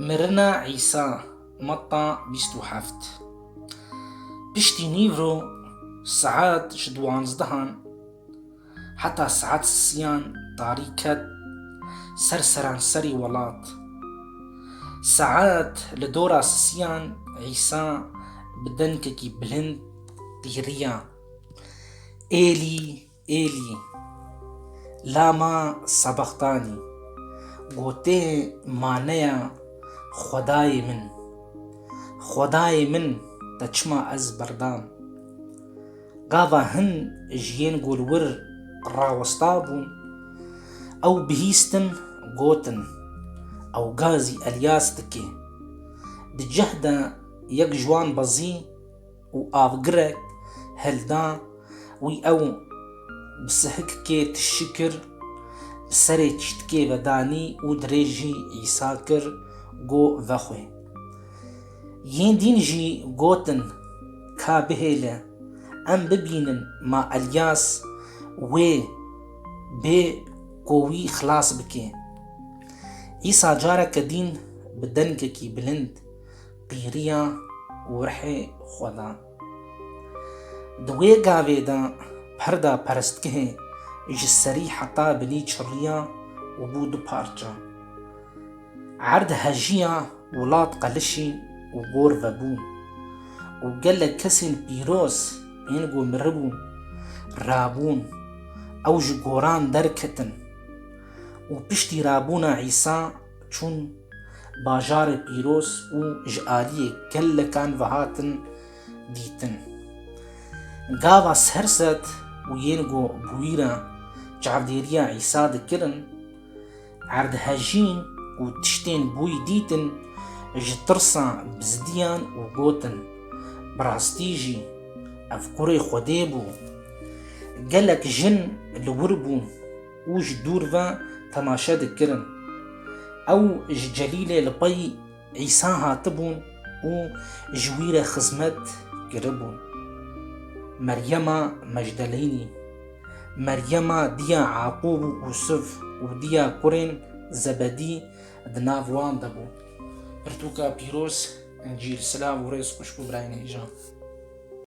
Mirina Îsa, Metta bîst û heft Piştî nîvro saet ji diwanzdehan heta saet siyan tarî ket ser seranserî welat. Saet li dora siyan Îsa bi dengekî bilind tîriya, Êlî, Êlî, La ma sebextanî gotê maneya Xwedayê min, Xwedayê min te çima ez berdam? Gava hin ji yên gulwir rawesta bûn, ew bihîstin gotin, Ew gazî Elyas dike. Di cih de yek ji wan bezî. û avgirek hilda wî ew bi sihikikê tişî kir, bi serê çîtikê vedanî û dirêjî Îsa kir go vexwe. Yên dîn jî gotin, Ka bihêle, em bibînin ma Elyas wê bê ku wî xilas bike. Îsa careke dîn bi dengekî bilind Pîriya Urhê Xweda Di wê gavê de perda perestgehê ji serî heta binî çirriya û bû du parça. Erd hejiya wilat qelişî û gor vebû û gelek kesên pîroz ên ku miribûn, rabûn, ew ji goran derketin û piştî rabûna Îsa çûn bajarê pîroz û ji aliyê gelekan ve hatin dîtin. Gava serset û yên ku bûyîra çavdêriya Îsa dikirin, erdhejîn û tiştên bûyî dîtin ji tirsa bizdiyan û gotin, Bi rastî jî ev kurê Xwedê bû. Gelek jin li wir bûn. û ji dûr ve temaşe dikirin. Ew ji Celîlê li pey Îsa hatibûn û ji wî re xizmet kiribûn. Meryema Mejdeleynî, Meryema diya Eqûb û Usif û diya kurên Zebedî di nav wan de bû. Pirtûka pîroz, Încîl, silav û rêz xwişk û birayên hêja.